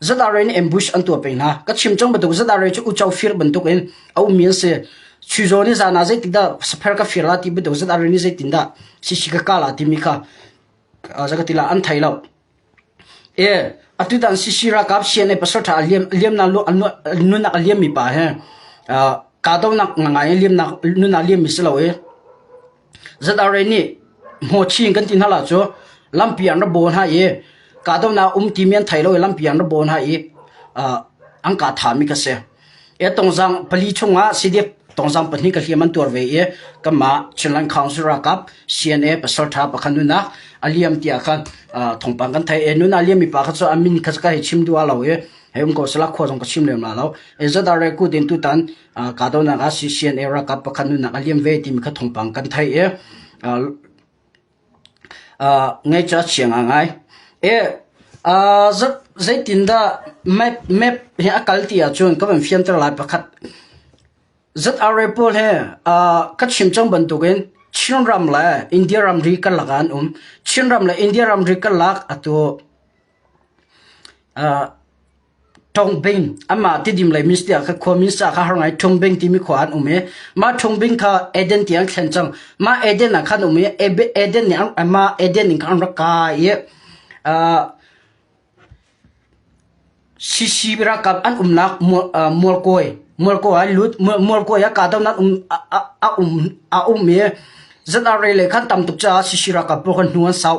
Zadarei nih ambush an tuah peng hna. Ka chim cang bantuk zadarei cu uco fir bantuk in a ummi an si. Chuzo nih zan ah zeitik dah saper ka fir la ti bantuk zadarei nih zeitin dah sisi ka kala timi kha zakati la an thei lo. E atu dan sisi rakap CNA pasaltha liam liam na nunak liam mi pa he ka do nak ngai liam nak nunak liam mi si lo e Zat-arei nih hmaw chin kan ti hna lo cu lampi ah an ra baw hna i kahdohnak a um timi an thei lo i lampi ah an ra baw hna i an ka thami ka si. Tawngzang pali chungah CDF tawngzang pahnih ka hliam an tuar ve i kanmah Chinland Council ralkap CNA pasalṭha pakhat nunak a liam tiah khan thawngpang kan theih. Nuna a liammi pa kha cu a min kha ka hei chim duh hlah lo i hei um ko sehla khua zong ka chim lem hlah lo. Zat-arei kut in tutan Kahdonak ah CCNA ralkap pakhat nunak a liam ve timi kha thawngpang kan theih i ngeihca chiang a ngai. E, uh, zeitindah map, map he a kal ti ahcun ka van fianter lai pakhat. ZRA pawl he uh, ka chim cang bantukin Chin ram le India ramri kan lak an um. Chin ram le India ramri kan lak atu uh, Ṭhawng Bing anmah Tidim lei minns tiah ka khuami sa kha har ngai Ṭhawng Bing timi khua ah an um i mah Ṭhawng Bing kha Eden tiang an thlen cang. Mah Eden ah khan an um i Eden nih an- mah Eden in khan an rak kai i ah, Shishi ralkap an umnak mual, ah, mualkawi mualkawi ah lut mual- mualkawi ah kahdohnak um a- a- a um a um i zan arei lei khan tam tuk caah Shishi ralkap pawl kha hnu an sau.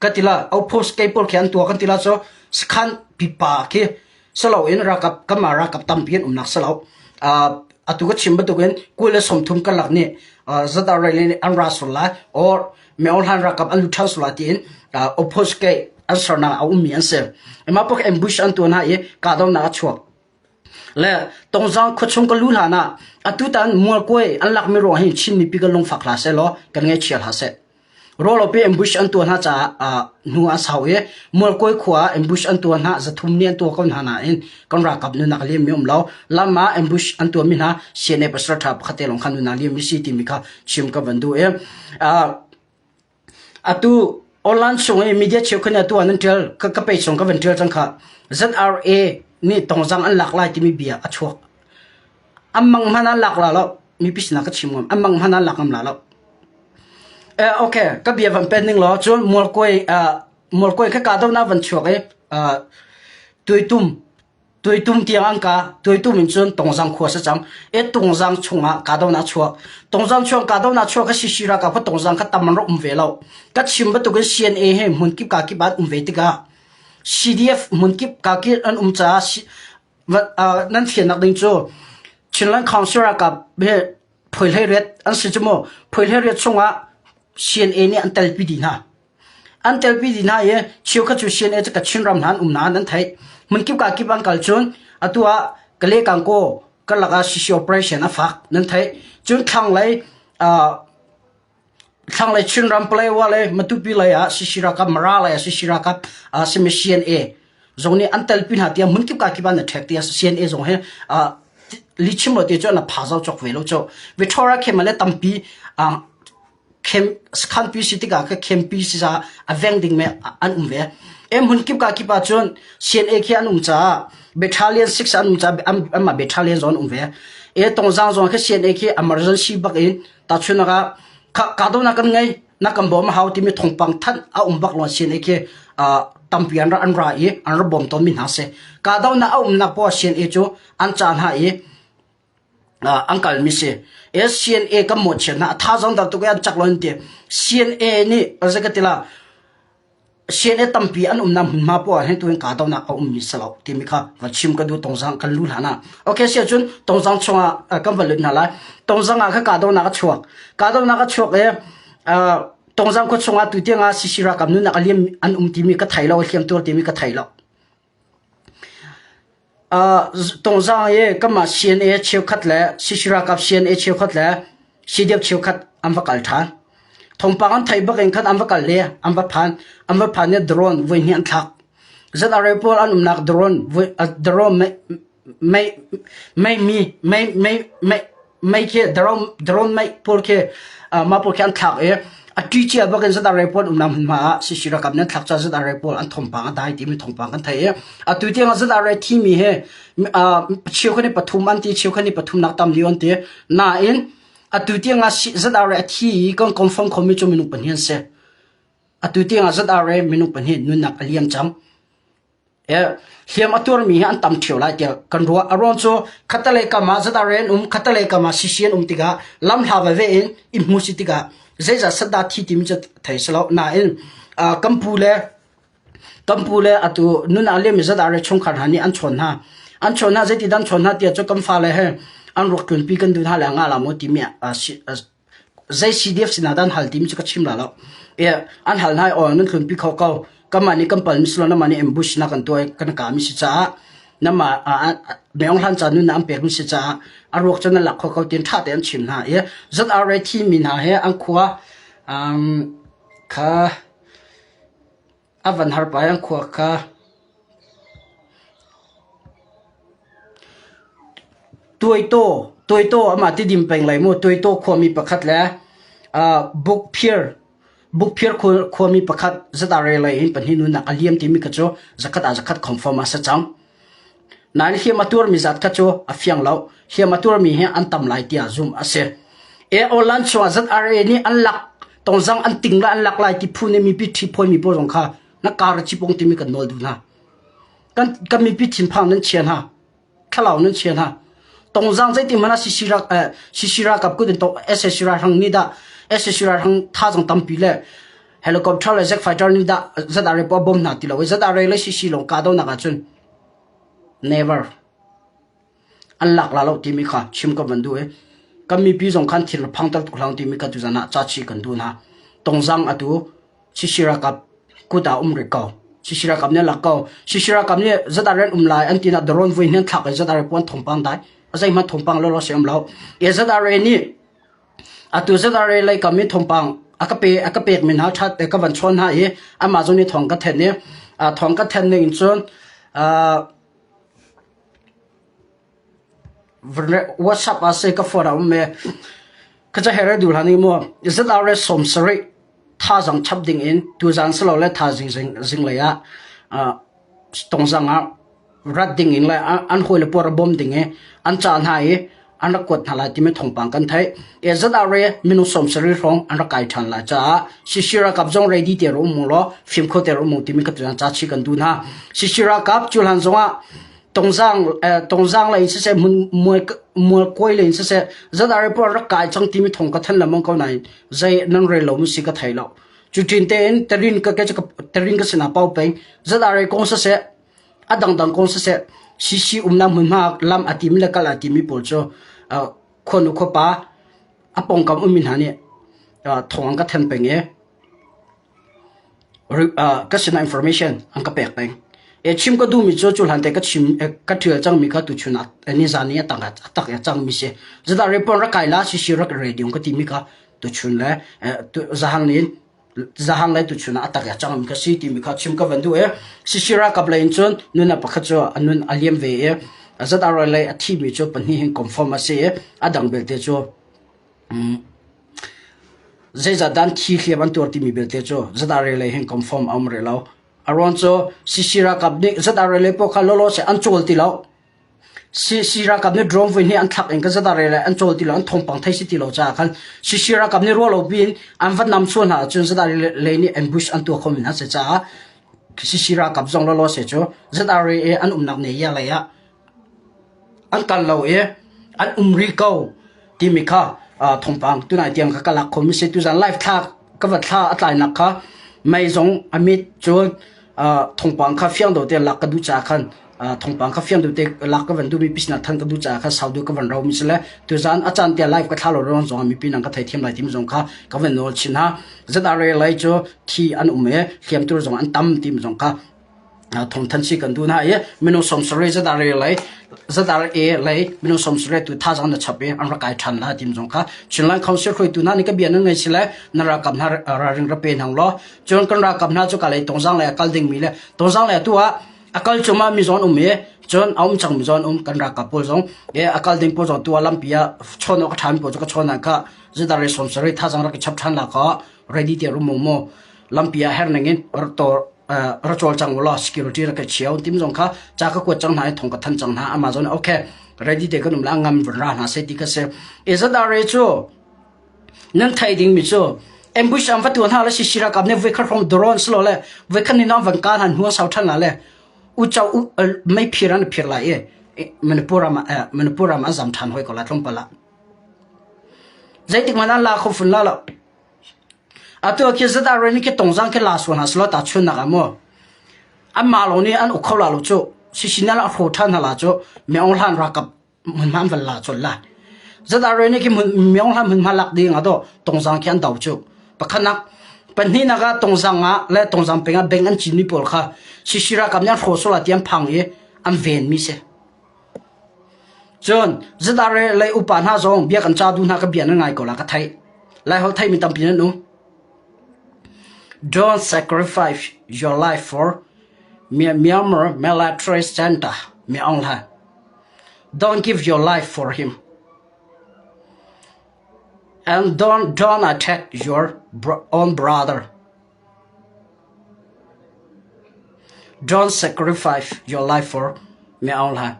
Ka tila outpost kei pawl khi an tua kan tila cu sakhan pipa khi salo in ralkap kanmah ralkap tampi an umnak salo. Uh, atu ka chim bantukin kul le sawmthum karlak nih uh, zata rai nih an ra sur lai or meohlan ralkap an lut ṭhan sur lai tiin uh, outpost kei an sernak a ummi an si. Emma pak ambush an tua hna i kahdonak a chuak. le tongzang khuachung ka lu hlan ah atutan mualkuai an lakmi ruang hi Chinmi pi ka lungfak hla seh law kan ngaichia hla seh rawlope ambush an tua hna caah hnu an sau i mualkuai khua ambush an tua hna zathum ni an tua ko hna na in kan rakap nu nak liam mi um lo lama ambush an tua mi hna CNA pasal tha pakhat te long khan nu na liam mi si ti mi kha chim ka van du e Atu online sung i media cheukhat nih atu ah nan ṭial. Ka page zong ka van ṭial cang khah. ZRA nih tawngzang an lak lai timi bia a chuak. An mang hmanh an lak la lo. Mipi sinah ka chim ngam. An mang hmanh an lak ngam la lo. Eh, okay, ka bia van pen ning law cun mualkuai uh, mualkuai kha kahdohnak van chuak i uh, tuitum Tuitum tiang an ka tuitum in cun tongzang khua sa cam e tongzang chungah ka do na chuak tongzang chuang ka do na chuak ka si si ra ka pha tongzang kha tam ro um ve lo ka chim batukin CNA he hmun kip ka kip an um ve tikah CDF hmun kip ka kip an um caah nan fian nak ding cu Chinland Council rakap be phoilhe ret an si chu mo phoilhe ret chungah CNA nih an tel pi di hna An telpi dih hna i cheukhat cu CNA ca Chinram hna an um nain an theih. Hmunkip ka kip an kal cun atu ah Kalay-Kankaw karlak ah CC operation a fak nan theih. Cun thlanglei ah thlanglei Chinram Palawa le Matupi lei ah CC ralkap Mara lei ah CC ralkap ah simi CNA zong nih an telpi hna tiah hmunkip ka kip an i ṭhek tiah CNA zong hi ah lichim lo te cu an a pha zau cawk ve lo cu. Victoria Khemale tampi ah khanpi si tikah khenpi a veng ding me an um ve. Hmun kip ka kip ah cun CNA khi an um caah battalion 6 an um caah anmah battalion zon um ve. E tongzang zon khi CNA khi emergency bak in tachun ka kahdohnak kan ngei nakam bom hau timi thongpang than a um bak lon CNA khi tampi an an ra i an ra bom ton mi hna se kahdohnak a umnak po CNA cu an chan ha i an kalmi si. CNA kan mawhchiat hna. A tha zong tam tuk an cak lo an ti. CNA nih zei ka ti la CNA tampi an umnak hmunhma poah hin tuin kahdohnak a ummi si lo timi kha va chim ka duh tongzang kan lu hlan ah ok si cun tongzang chungah kan va lut hna lai tongzang ah kha kahdohnak a chuak kahdohnak a chuak i tongzang khua chungah tutiang ah sisi rakam nunnak a liam an um timi ka thei lo a hliam tur timi ka thei lo Tawngzang i kanmah sian i cheukhat le sisi ralkap sian i cheukhat le sidiap cheukhat an va kal ṭhan. Thawngpang an theih bak in khan an va kal i an va phan. An va phan i drone voihnih an thlak. Zat a rel pawl an umnak drone, drone Mei khi drone mei pawl khi mah pawl khi an thlak i a ṭi cia bak in zat arei pawl um nam hmunhma ah sisi rakap nih an thlak caan zat arei pawl an thawngpang a dai timi thawngpang kan theih i atu tiang ah zat arei thi mi hi cheu khat ni pathum an ti cheu khat ni pathum nak tam liu an ti nain atu tiang ah zat arei a thi i kan confirm khomi cu minung pahnih an si atu tiang ah zat arei minung pahnih nunnak a liam cang hliam a tuarmi hi an tam ṭhio lai tiah kan ruah. A ruang cu khatalei kam ah zataren um khatalei kam ah sisi an um tikah lam hla veve in i hmu si tikah zeizah satda thi timi cu thei si lo. Nain kan pu le kan pu le atu nun ah liam zatare chungkhar hna nih an chawn hna. An chawn hna zeiti dan chawn hna tiah cu kan fa le he an ruak tlunpi kan du hna le nga la mu timi Zei CDF sinah dah an hal timi cu ka chim la lo. An hal hna i oil nan hlunpi kho ko. Kanmah nih kan palmi si lo, nanmah nih ambush nak an tuah i kan kami si caah nanmah Myeong hlan ca nunnak an pekmi si caah a ruak cu nan lak kho ko tiin ṭha tein an chim hna i Zan Are thi mi hna he an khua kha A van har pah i an khua kha Tuaitaw amah ti dim peng lai maw? Tuaitaw khuami pakhat le Bukphir khuami pakhat zat ah relai in pahnih nunak a liam timi kha cu zakhat ah zakhat confirm ah a si cang. Nain hliam a tuarmi zat kha cu a fiang lo. Hliam a tuarmi hi an tam lai tiah zumh a si. E Olan chungah ZRA nih an lak tonzang an ting le an lak lai ti phu nih mipi ṭhi phuai mi pawl zong kha na kar a cipong timi kan nawl duh hna. Kan, kan mipi thinphang nan chia hna. Thlalau nan chia hna. Tongzang zeitin hmanh ah CC ra eh, CC ralkap kut in tong SSC ralhrang nih dah SSC ralhrang tha zong tampi le helicopter le jet fighter nih dah ZRA po a bom hna ti lo i ZRA le CC lawng kahdohnak ahcun Never. An lak la lo timi kha chim kan van duh i kan mipi zong khan thil phang ter tuk hlang timi ka tuzan ah caci kan duh hna. Tongzang atu Chisi ralkap kut ah um rih ko. Chisi ralkap nih a lak ko. Chisi ralkap nih zat ren um lai an ti nak drone vui hnen thlak in zat are puan thongpang dai. A zeihmanh thongpang lo lo se um lo. E zat are nih Atu zet ah Re lei kam i thawngpang a ka pe a ka pekmi hna ṭhat eh, ka van chuan hna i amah zong nih thawng ka then i uh, thawng ka then ning in cun uh, WhatsApp ah sai ka phone a um e khaca here dul hani mu zat are som sari thazang chap dingin tuzaan silole thazing zinglei ah tongzang ah rat dingin le an hawile puar bawm ding i an cah hna i an rak kuat hna lai timi thawngpang kan theih e zat a re minung som sari hrong an rak kai than lai caah sishira kap zong ready te ru mu lo fim kho te ru mu timi ka tuan ca chi kan du hna sishira kap cuhlan zongah Tongzang lei in siseh, mualkawi lei in siseh, zat ari puan rak kai cang timi thong ka than lengmang ko nain zei nan rel lo mi si ka thei lo. Cu tin tein terin ka terin ka sinah pau pei zat ari kong siseh, a dangdang kong siseh, sisi umna hmunhma lam a timi le kal a timi pawl cu khuanu khuapa a pongkam umin hna nih thong an ka then peng i, ka sinah information an ka pek peng. E chim ka duhmi cu cu hlan te ka chim ka ṭhial cangmi kha tuchun nizan i a tak a tak a cangmi si. Zeta report ra kaila si si rak radio ka timi kha tuchun le zahang ni zahang le tuchun a tak a cangmi ka si timi kha chim ka van duh e. Si si ra kap le in cun nuna pakhat cu anun aliam ve e. Zeta roi le a thimi cu pahnih hin confirm a si e. A dang belte cu Zeicahdah an thi hliam an tuar timi belte cu zat ah relei he kom fom a um rih lo. A ruang cu CC ralkap nih zat ah relei poh kha lawlaw seh an cawl ti lo. CC ralkap nih drone vui nih an thlak in kan zat ah relei an cawl ti lo, an thawngpang thei si ti lo caah khan CC ralkap nih ruah lo piin an va nam sual hna ahcun zat ah relei nih ambush an tuah khomi hna a si caah CC ralkap zong lawlaw seh cu zat ah rel an umnak ne ia lei ah an kal lo i an um rih ko timi kha thawngpang tunai tiang kha ka lak kho mi a si. Tuzan live thla ka va thla a tlainak kha mei zong a mit cun thawngpang kha fiang deuh te lak ka duh caah khan thawngpang kha fiang deuh te lak ka van duh mi pisina than ka duh caah khan sau deuh ka van rau mi si le tuzan a caan tia live ka thla lo ron zong mi pinang ka thei thiam lai timi zong kha ka van nawl chin ha zat a re lai cu thi an um i hliam tur zong an tam tim zong kha thongthan si kan duh na i minung somsare zadah re lei zadah e lei minung somsare tu tha zang na chap e an ra kai than la tim zong kha chinland council hroi tu na ni ka bian ngai si le na ra kam na ra ring ra pe nang lo chon kan ra kam na chu ka lei tong zang le kal ding mi le tong zang le tu a akal chuma mi zon um e chon aum chang mi zon um kan ra ka pol zong e akal ding pol zong tu alam pia chon ok tham pol zo ka chon ka zadah re somsare tha zang ra ka chap than la ka ready te rum mo lampi ah her ningin ra col cang ulaw security ra kai chiao tim zong kha cha ka kuat cang hna i thong ka than cang hna amazon okay ready de kan um la ngam vra hna se ti ka se ezadare chu nan thai ding mi chu ambush am fatu hna la si sira kam ne vekar from drones lo le vekhan ni non van ka han huwa sau than la le u chau mai phiran phir lai e manipura ma manipura ma azam than hoi ko la tlong pala zeitik manan la khofun la la Atu ah khi zat ah rain hi khi tungzang khi la sual hna selaw tahchunhnak ah maw anmah lawng nih an uk kho la lo cuh. Sisinal a hraw ṭhan hna la cuh myeong hlan rakap hmunhma an van la colh la. Zat ah rain hi khi hmun, myeong hlan hmunhma lak ding ah to tungzang khi an do cuh. Pakhanak pahnihnak ah tungzang ah le tungzang peng ah beng an cinmi pawl kha sisi rakap nih an hraw sual ah ti an phang i an venmi si. Cun Zadar i lei upa hna zong bia kan ca duhnak ka bia nan ngai ko la ka theih. Laiholh theimi tampi nan um. Don't sacrifice your life for mi Myanmar military center mi Aung Hlaing. Don't give your life for him. And don't don't attack your bro- own brother. Don't sacrifice your life for me online.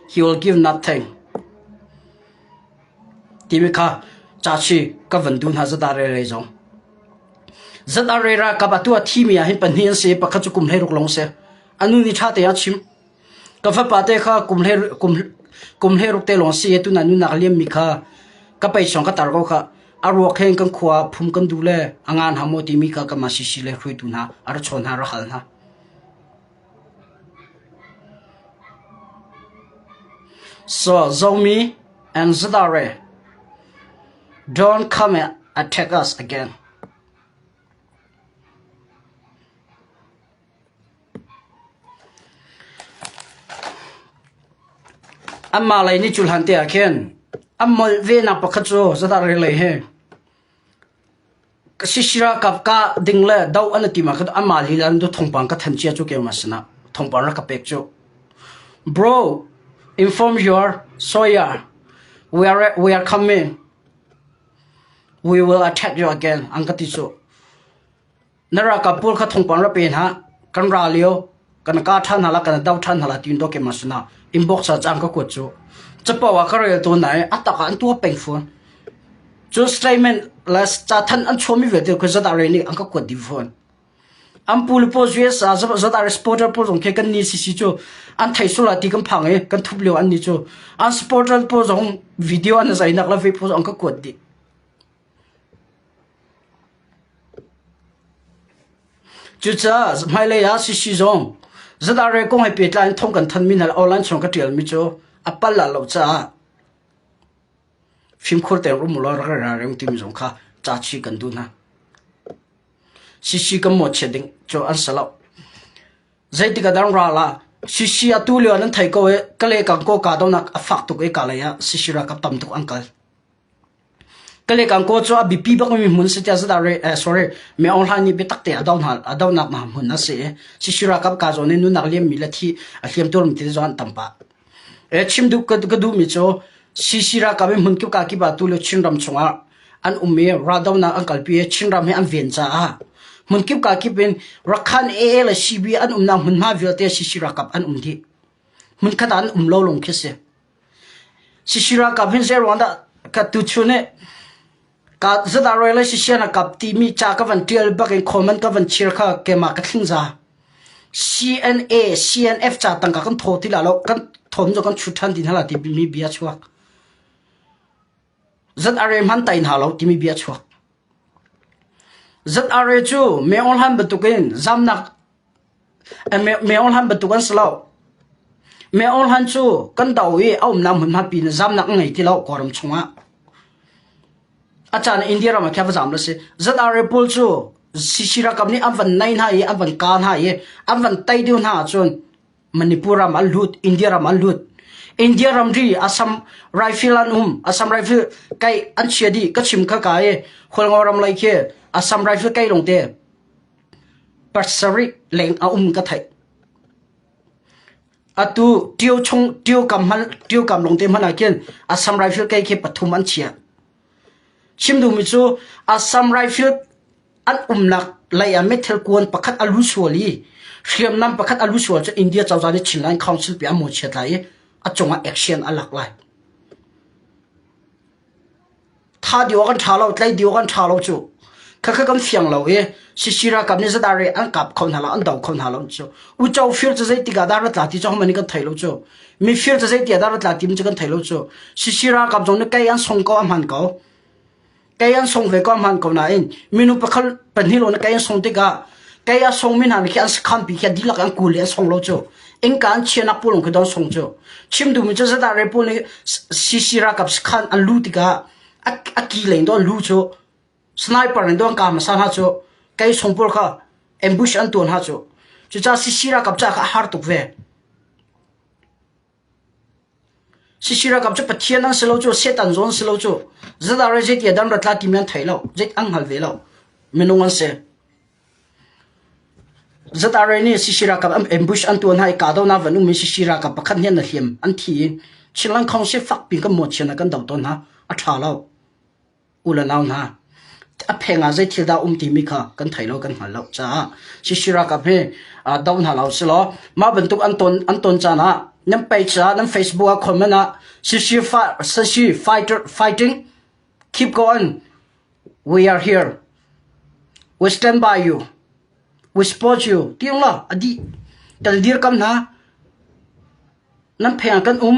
He will give nothing. Timi kha cachi ka van du hna zata re re zong. Zata re ra ka ba tua thi mi ah hin pahnih an se pakhat cu kum hlei ruk long se. Anu ni tha te a chim. Ka fapate kha kum hlei ruk te lawng a si i tun ah nunnak a liammi kha ka pei sawng ka tar ko khah. A ruak he in kan khua ah phum kan duh le a ngan hau maw timi kha kanmah sisi le hruaitu hna a ra chawn hna, ra hal hna. So Zomi and Zadare don't come attack us again. Anmah lei nih cu hlante ah khin an molh venak pakhat cu Zadar ringlei hi ka sisira kap kah ding le doh an i tima kha tu anmah lila an du thongpang ka than cia cu keu ma sinah thongpang rak ka pek cu. Bro, inform your Sawyer. We are we are coming. We will attack you again. An ka ti cu. Na ralkap pawl kha thongpang ra pe hna. Kan ra lio kan ka ṭhan hna la kan do ṭhan hna la tiin dawk ma suna inbox ah cang ka kuat cu. Capo ah ka rel tawn na i a tak ah an tua peng fawn. Cu statement la ca than an chuami vialte kha zat ah rei nih an ka kuat ding fawn. An pu le paw US ah zat ah supporter pawl zong khi kan ni sisi cu an thei sula ti kan phang i kan thup lio an ni cu an supporter pawl zong video an zainak la ve pawl zong an ka kuat dih. Cucaah hmailei ah CC zong ZRA kong he pehtlai in thawng kan thanmi hna le online chung ka ṭialmi cu a pal a lo caah fimkhur tein rum ulaw rak ra reng timi zong kha ca chih kan duh hna. CC kan mawhchiat ding cu an si lo. Zeitik ah dang ral ah CC atu lio ah nan thei ko i Kale Kangkaw kahdohnak a fak tuk i kalei ah CC ralkap tam tuk an kal. Kalekangkaw cu a biapi bakmi hmun si tiah zedah sorry miohlang nih biatak tein a dohnak hmun a si i Sisira kam kaa zawn i nunnak liammi le thi a hliamtu ram ti zong an tam pah. Chim duh ka duhmi cu Sisira kam i hmun kipka kip ah tu le Chinram chungah an um i raldohnak an kalpi i Chinram hi an ven caah hmun kipka kip in Rakhan AA le CB an umnak hmunhma vialte Sisira kam an um dih. Hmunkhat ah an um lo lung khi si. Sisira kam hin zeiruang dah ka tuchun i ka zat ah rawi le sisian a kap timi ca ka van ṭial bak in comment ka van chir kha keimah ka thlingza. CNA, CNF ca tangka kan thaw ti la lo, kan thawm cu kan chut ṭhan ti hna la timi bia a chuak. Zat are hman tai hna lo timi bia a chuak. Zat are cu meohlan bantukin zamnak meohlan bantuk an si lo. Meohlan cu kan do i a umnak hmunhma pi in zamnak an ngei ti lo kawram chungah. A caan India ram ah kha va zam lo si. Zat are pawl cu sishira kam nih an van nai hna i an van ka hna i an van tai deuh hna ahcun Manipur ram an lut, India ram an lut. India ramri asam rifle an um, asam rifle kai an chia di ka chim kha ka e kholngo ram lai ke asam rifle kai long te persari leng a um ka thai. Atu tio chung tio kam hal tio kam long te mana ken asam rifle kai ke pathum an chia. Chim duhmi cu Assam Rifles an umnak lei ah meithal kuan pakhat a lu sual i hriamnam pakhat a lu sual cu India cozah nih Chin Line Council pe ah maw chiat lai i a cungah action a lak lai. Tha dio kan ṭha lo, tlei dio kan ṭha lo cu. khakha kan fiang lo i sisi ralkap nih zadare an kap kho hna lo an do kho hna lo cu ucho fir cu zei tikah dah ratla ti cu homan kan thei lo cu mi fir cu zei tikah dah ratla ti cu kan thei lo cu sisi ralkap zong nih kai an song ko ahman ko kai an song ve ko ahman ko nain minu pakhal pahnih lo na kai an song tikah kai a song min han khi an kham pi khi dilak an kul an song lo chu in kan chianak pulung khi don song chu chim du mi chu zata re pu ni sisi ra kap khan an lu tika a ki lein don lu chu Sniper in duangkam a ser hna cu kei sungpur kha ambush an tuan hna cu. Cucaah Sisi ralkap caah kha a har tuk ve. Sisi ralkap cu Pathian an si lo cu, Setan zawn si lo cu, zedah rai zeitia dan rat la ti mi an thei lo, zei an hngal ve lo. Minung an si. Zedah rai nih Sisi ralkap an ambush an tuan hna i kahdohnak van ummi Sisi ralkap pakhat nih an a hliam an thi i Chinland Council fak pi kan muachian ah kan do tawn hna. A ṭha lo. U le nau hna, a pheng ah zei thil dah a um timi kha kan thei lo, kan hngal lo caah Shishiraka hme do hna lo silaw mah bantuk an ton an ton caan ah nan page ah nan Facebook ah comment ah Shishi Shishi fighter fighting keep going we are here we stand by you we support you tiong lo adi tal dir kam na nan pheng ah kan um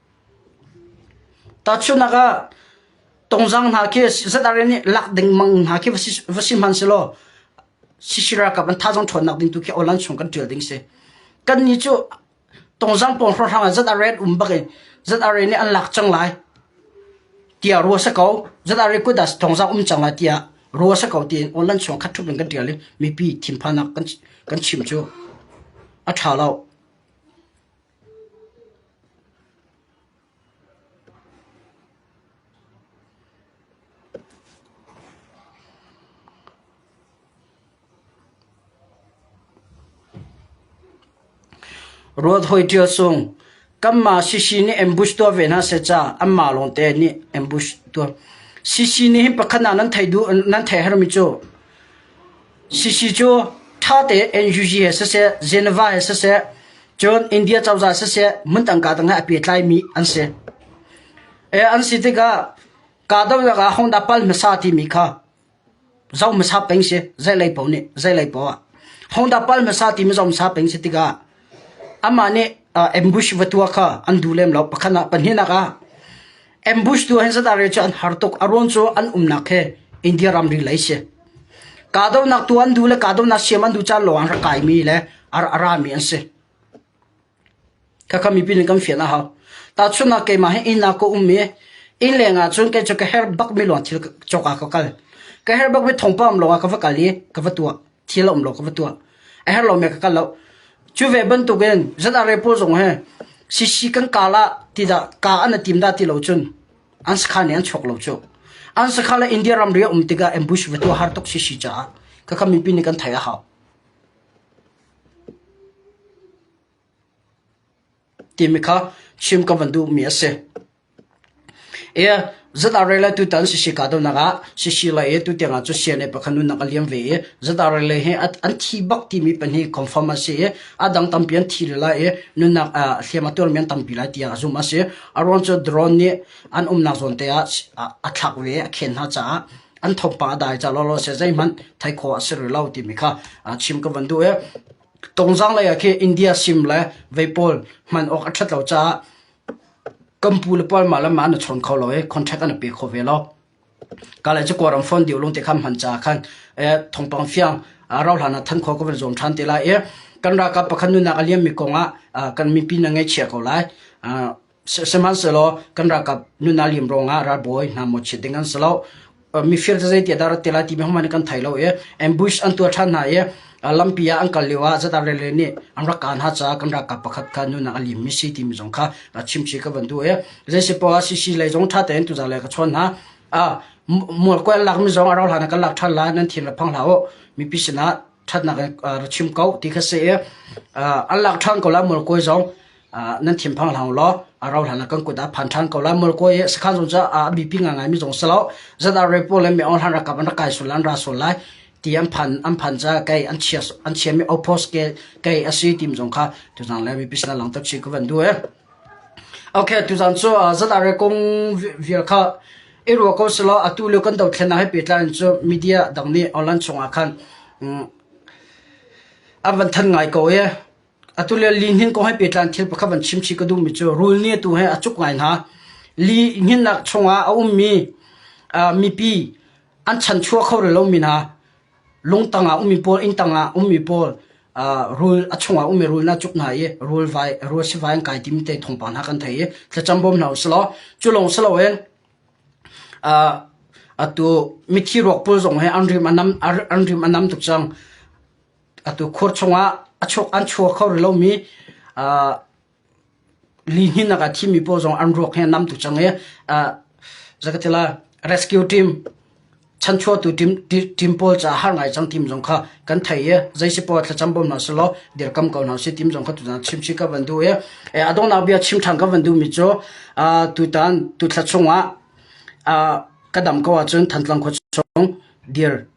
Tahchunhnak ah, tungzang hna khi ZRA nih lak dengmang hna khi va si hmanhselaw CC ralkap an thazang ṭhawnnak ding tu khi awl an sung kan ṭial ding a si. Kannih cu tungzang pawng hrawnghrang ah ZRA an um bak i ZRA nih an lak cang lai tiah ruah a si ko. ZRA kut ah tungzang um cang lai tiah ruah a si ko tiin awl an sung khat ṭhup in kan ṭial i mipi thinphannak kan chim cu a ṭha lo. Ruat hawi ṭial sung, kanmah CC nih ambush tuah ve hna seh ca anmah lawngte nih ambush tuah. CC nih hin pakhat ah nan thei duh nan thei hermi cu? Sisi cu ṭhate NUG he siseh, Geneva he siseh, cun India cozah siseh hmun tangka tangah a pehtlaimi an si. An si tikah kahdohnak ah Hongda pal hmasa timi kha zoh hmasa peng si, zeilei paoh nih, zeilei paoh ah. Hongda pal hmasa timi zoh hmasa peng si tikah Amah nih ambush va tua kha an duh lem lo. Pakhat ah pahnihnak ah ambush tu han Sadare cu an har tuk. A ruang cu an umnak he India ramri lei si. Kahdohnak tu an duh le kahdohnak siam an duh caan lawng an rak kaimi le ar a rami an si. Khakha mipi nih kan fian a hau. Tahchunnak keimah hi inn ah ka um i inn leng ah cun kei cu ka her bak mi lawng thil cawk ah ka kal. Ka her bak mi thongpam lawng ah ka va kal i ka va tuah. thil a um lo ka va tuah a her lo me ka kal lo cu ve bantuk in zat are pawl zong he sisi kan kal ah ti da ka an tim da ti lo cun an sakha ne an chok lo chu an sakha la india ramri um tiga ambush ve tu har tok sisi cha ka kam min pin ni kan thai a hao ti mi kha chim ka van du mi a si Zat ah rel le tutan an si si kaa deuhnak ah sisile i tutiang ah cu CNA pakhat nunnak a liam ve i zat ah rel le hi an thi bak timi pahnih confirm a si i a dang tampi an thi lila i nunnak hliam a tuarmi an tampi lai tiah zumh a si. A ruang cu drone nih an umnak zawn te ah a thlak ve i a khen hna caah an thawngpang a dai cah lawlaw a si. Zeihmanh theih khawh a si rih lo timi kha chim ka van duh i tungzang lei ah khi India sim le vei pawl hman awk a ṭhat lo caah Kan pu le pa mah le mah an i chawn kho lo i contract an i pe kho ve lo. Ka le cakuat ram fawn deuh lung te khan hman ca khan eh, thongpang fiang ah rau hlan ah than kho ka van zuam than te lai i kan ralkap pakhat nunak a liam mi kong ah ah, kan mipi na ngaihchia ko lai. Ah, sihmanhsehlaw kan ralkap nuna liam rong ah ralbawi hna mawchiat ding an si lo. mifir cu zeitiah dah a rat te lai ti hmanh in kan thei lo i ambush an tuah ṭhan hna i lampi ah an kal lio ah Zadar-lele nih an rak kah hna caah kan ralkap pakhat kha nunak a liimmi si timi zong kha chimci ka van duh i zeisipaoh ah CC lei zong ṭha tein tuzalai ka chawn hna a mual kuai an lakmi zong a rau hlan ah kan lak ṭhan lai nan thin ra phang hlah u mipi sinah ṭhatnak in ra chim ko ti kha si i an lak ṭhan ko lai mualkawi zong nan thinphang hlah law a rau hlan ah kan kut ah phan ṭhan ko lai mualkawi i sakhan zong cu a bipi ngaingai mi zong si lo zat ah repo le mi ong hlan rakap an rak kai sul an ra sul lai ti an phan an phan ca kei an chia an chia mi opos ke kei asi tim zong kha tu zang le mi pisna lang tak chi ku van du e Tuzaan cu zatare kong vial kha i ruah ko selaw atu lio kan dothlen ah he pehtlai in cu media dang nih online chungah khan an van thanh ngai ko i atu lio lihnin kong he pehtlai in thil pakhat van chimchih ka duhmi cu rul nih atu he a cuk ngai hna. Li hninnak chungah a ummi mipi an chanchuah kho rih lomi hna lungtang ah ummi pawl inn tang ah ummi pawl rul a chung ah ummi rul na cuk hna i rul vai rul sivai an kai tim te thongpang hna kan thei i thlacam bom hna uslo cu lawng silo in atu mithi ruak pawl zong he an rim anam an rim anam tuk cang atu khur chung ah a chuk an chua kho lo mi lihninnak ah thimi pawl zong an ruak hi an nam tuk cang i zakatila rescue team chanchuatu team team pawl ca har ngai cang team zong kha kan thei i zaisi pawl thlacam bom hna selaw dirkam ko hna si team zong kha tuzan chimchi ka van du i adongnak bia chimthang ka van du mi cu tutan tutla chungah ka dam ko ahcun thantlang khua chung dir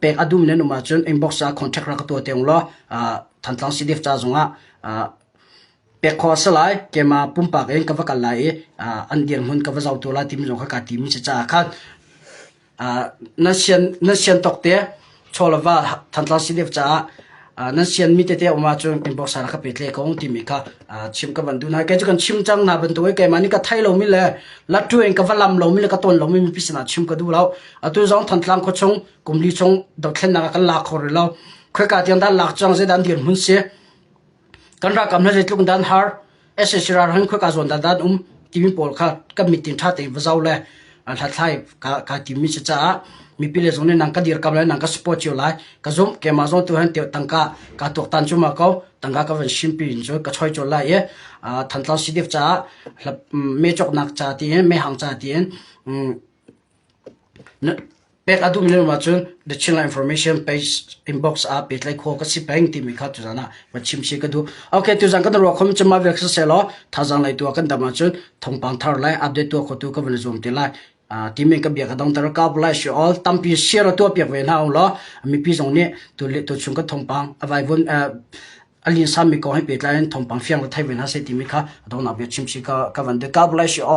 pek a dum len um ahcun inbox ah contact rak ka tuah te ung law Thantlang CDF ca zongah pek kho a si lai keimah pumpak in ka va kal lai i an dirhmun ka va zoh tu lai timi zong kha kaa timi si caah khan na sian na sian tawk te chawlava Thantlang CDF caah nan sian mi tete um ahcun inbox ah ka pe tle ko timi kha chim ka van duh hna kei cu kan chim cang hna bantuk keimah nih ka thei lomi le lathu in ka va lam lomi le ka ton lomi mipi sinah chim ka duh lo atu zong thantlang khaw chung kumli chung dothlennak ah kan lak khor lo khoi ka tiang dan lak cang zeidan dir mun si kan ra kam na zeitluk dan har ss ralhrang khoi ka zawn dandan um timi pawl kha kan mitin tha te va zau le hlathlai ka ka timi se caah mipi le zong ne nang ka dir kam le nang ka support cio lai ka zum ke ma zong tu han te tangka ka tok tan chuma ko tangka ka van shimpi in zo ka choi chol lai e than tlau si def cha me chok nak cha ti me hang cha ti Pek a duh mi na um ahcun The Chinland Information Inbox ah pehtlaih khawh ka si peng timi kha tuzaan ah va chim si ka duh. Ok, tuzaan kan ruak khom chama vek siselaw thazang lai tua kan dam ahcun thongpang thar lai update tua khotu ka van zoom ti lai. timen ka bia ka dong tar ka lai shi all tampi share tua piak ve na ong lo mi pi zong nih tu le tu chung ka thongpang avai vun alin sam mi ko hai petlai thongpang fiang la thai ve na se ti mi kha dong na bia chim si ka ka van de ka lai shi all